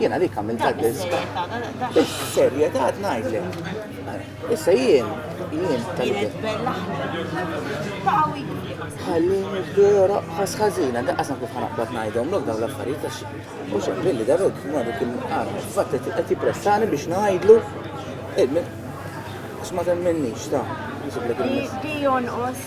Jien għalik għamilt dak l-iżbal. Is-serjetà tnajdlek. Issa jien, jien tal-jien. Ħalli nibdu joroq ħas ħażina, da qasam kif ħanaqbad ngħidhom lok dawn l-affarijiet għax u xogħol li daru madu kien qara. Fatt qed jippressani biex ngħidlu eh, x'ma temminnix ta' nsiblek il-miss. Di jonqos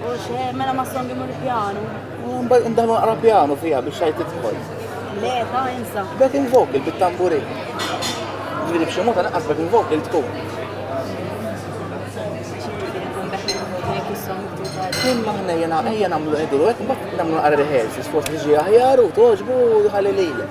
U xe, mela ma songi mur pjanu. Mbagħad ndaħlu naqra pjanu fiha biex xajt tidħol. Le, ta' insa. Back in vocal bit-tamburi. Ġifieri b'xi mod naqqas back in vocal tkun. Kien maħna jena ejja nagħmlu qegħdu hekk mbagħad nagħmlu naqra rehearsals forsi ġi aħjar u toġbu ħalli lilek.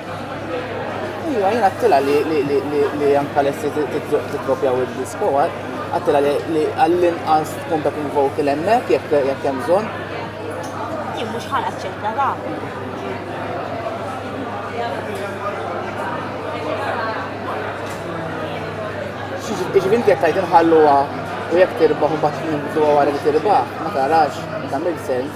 Iva, jien għattila li anka l-essi t-kopja u d-disko, għattila li għall-inqas tkun dak il-vokal emmek, jek jem zon. Jien mux ħal ċetta da. Iġvin jek tajt nħalluwa u jek tirbaħ u bat nibdu għara li tirbaħ, ma tarax, tamil sens.